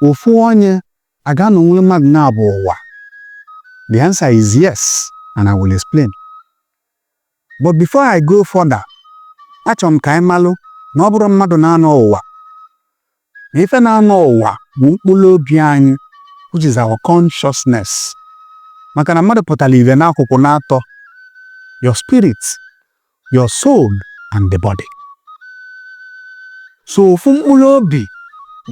Ofu onye a ga-anọnwuli mmadụ naabọ ụwa? The answer is yes and I will explain. But before I go further, achọrọ m ka anyị malụ na ọ bụrọ mmadụ na-anọ ụwa na ife na-anọ ụwa bụ mkpụrụ obi anyị which is our consciousness maka na mmadụ pụtara ife n'akụkụ naatọ your spirit your soul and the body. So ofu mkpụrụ obi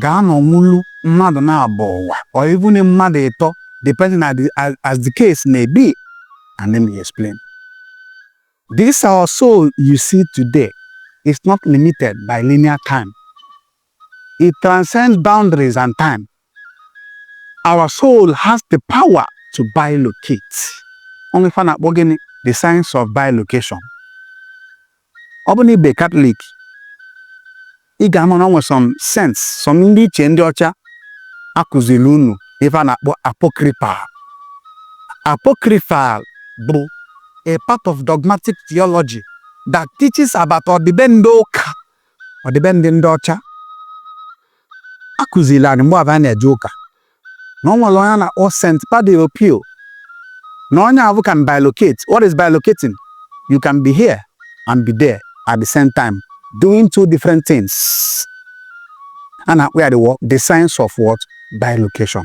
ga-anọnwulu mmadụ naabọ ụwa or even mmadụ ịtọ depending as the, as the case may be. And let me explain. This our soul you see today is not limited by linear time. It transcends boundaries and time. Our soul has the power to bilocate. O nwe ife a na-akpọ gịnị? The science of bilocation. Ọ bụ na ị bụ Katọlik, ị ga-ama na o nwe some saints, some ndị ichie ndị ọcha a kụziri unu ife a na-akpọ apocryphal. Apocryphal bụ a part of dogmatic theology that teaches about ọdịbendị ụka ọdịbendị ndị ọcha a kụziri anyị mgbe ahụ a na-eje ụka na o nwere onye a na-akpọ St. Padre Pio na onye ahụ can bilocate. What is bilocating? You can be here and be there at the same time doing two different things. A na-akpọ ya the science of what? Bilocation.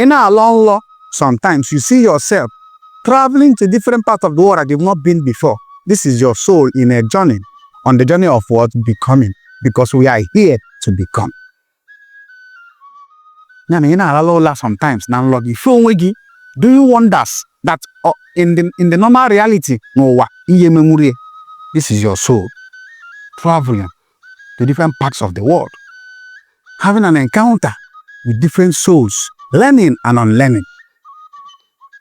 Ị na-alọ nlọ sometimes you see yourself traveling to different parts of the world that you've not been before. This is your soul in a journey on the journey of what becoming because we are here to become. Ya na ị na-alala ụla sometimes na nlọ gị fee onwe gị do you wonders that uh, in the in the normal reality n'ụwa ihe menwurie this is your soul traveling to different parts of the world, having an encounter with different souls, learning and unlearning.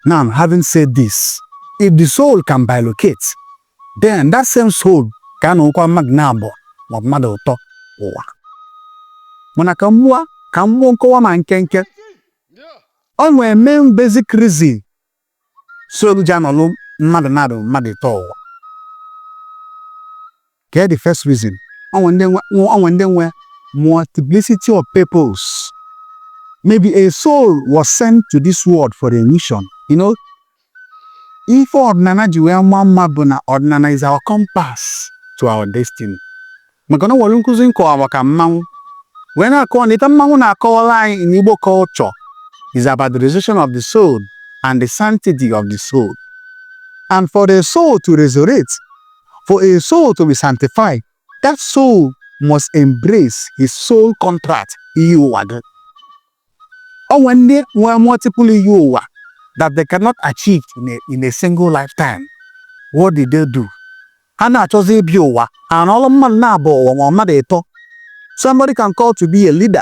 Now, having said this, if the soul can bilocate, then that same soul can anọkwa mmadụ naabọ maọbụ mmadụ ịtọ ụwa mana ka m ka m mee nkọwa m nkenke o nwe main basic reason soul ji anọlụ mmadụ naabọ mmadụ ịtọ ụwa. Kee the first reason? O nwe ndị nwe o nwe ndị nwe multiplicity of purpose. Maybe a soul was sent to this world for a mission. You know, ife ọdịnana ji wee maa mma bụ na ọdịnana is our compass to our destiny. maka na o nwere nkụzi m kọwara maka mmanwụ wee na-akọwa na ife mmanwụ na-akọwara anyị in Igbo culture is about the resurrection of the soul and the sanctity of the soul and for the soul to resurrect for a soul to be sanctified that soul must embrace his soul contract iyi ụwa gị O nwere ndị nwere multiple iyi ụwa that they cannot achieve in a, in a single lifetime. What did they do? Ha na-achọzi ịbịa ụwa ha anọlụ mmadụ naabọ ụwa ma mmadụ ịtọ. Somebody can call to be a leader.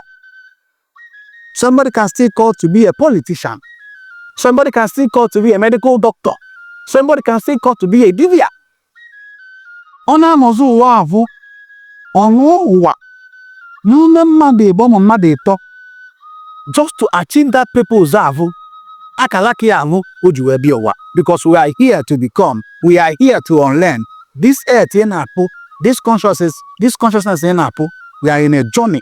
Somebody can still call to be a politician. Somebody can still call to be a medical doctor. Somebody can still call to be a dibịa. ọ na-anọzi ụwa ahụ ọ nọọ ụwa n'ime mmadụ ịbọ ma mmadụ ịtọ just to achieve that purpose ahụ akalaka ya ahụ o ji wee bịa ụwa because we are here to become we are here to unlearn this earth ị na-afụ this consciousness ị na-afụ we are in a journey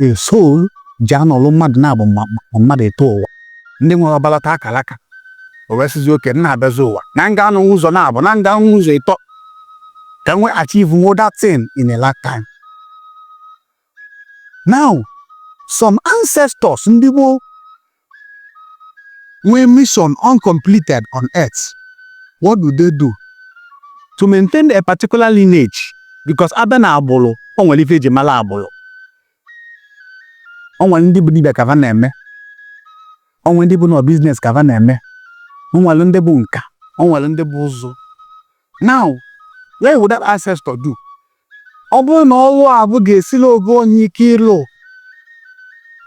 A soul ji anọlụ mmadụ naabọ ma mmadụ ịtọ ụwa. Ndị nwere ọbara taa akalaka. O wee sịzi okay, m na-abịazi ụwa. Na m ga-anọnwu ụzọ naabọ, na m ga-anọ ụzọ ịtọ ka m wee achieve nwuo that thing in a lifetime. Now, some ancestors ndị gboo nwee mission uncompleted on earth, what do they do? To maintain a particular lineage because a bịa n'agbụrụ, o nwere ife e ji mara agbụrụ. O nwere ndị bụ dibịa ka fa na-eme, o nwere ndị bụ na ọ business ka fa na-eme, o nwere ndị bụ nka, o nwere ndị bụ ụzụ. Now, what would that ancestor do? Ọ bụrụ na ọlụ ahụ ga-esiri ofu onye ike ịlụ,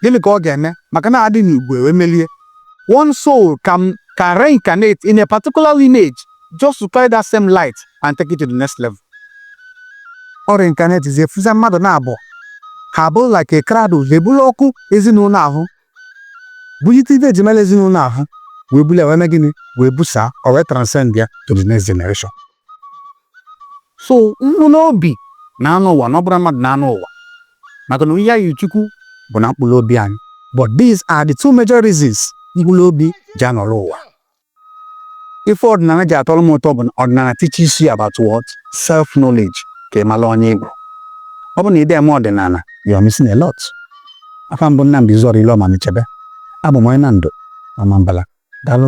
gịnị ka ọ ga-eme? Maka na a dị n'igwe e wee melie. One soul can, can reincarnate in a particular lineage just to carry that same light and take it to the next level. Ọ reincarnate is efuza mmadụ naabọ ha abụrụ like a crowd eburu ọkụ ezinụlọ ahụ bulite ife e ji mara ezinụlọ ahụ wee bulie ya wee mee gịnị wee busaa o wee transcend ya to the next generation so mkpụrụ obi na-anọ ụwa na ọ bụrọ mmadụ na-anọ ụwa maka na oyiyi Chukwu bụ na mkpụrụ obi anyị but these are the two major reasons mkpụrụ obi ji anọrọ ụwa ife ọdịnala ji atọrọ m ụtọ bụ na ọdịnala teaches you about what self knowledge ka ị mara onye ị bụ ọ bụ na ị da-eme ọdịnala you are missing a lot afa m bụ Nnamdi Izuora Ile Ọma Mechebe abụ m onye Nando Ọmambala daalụ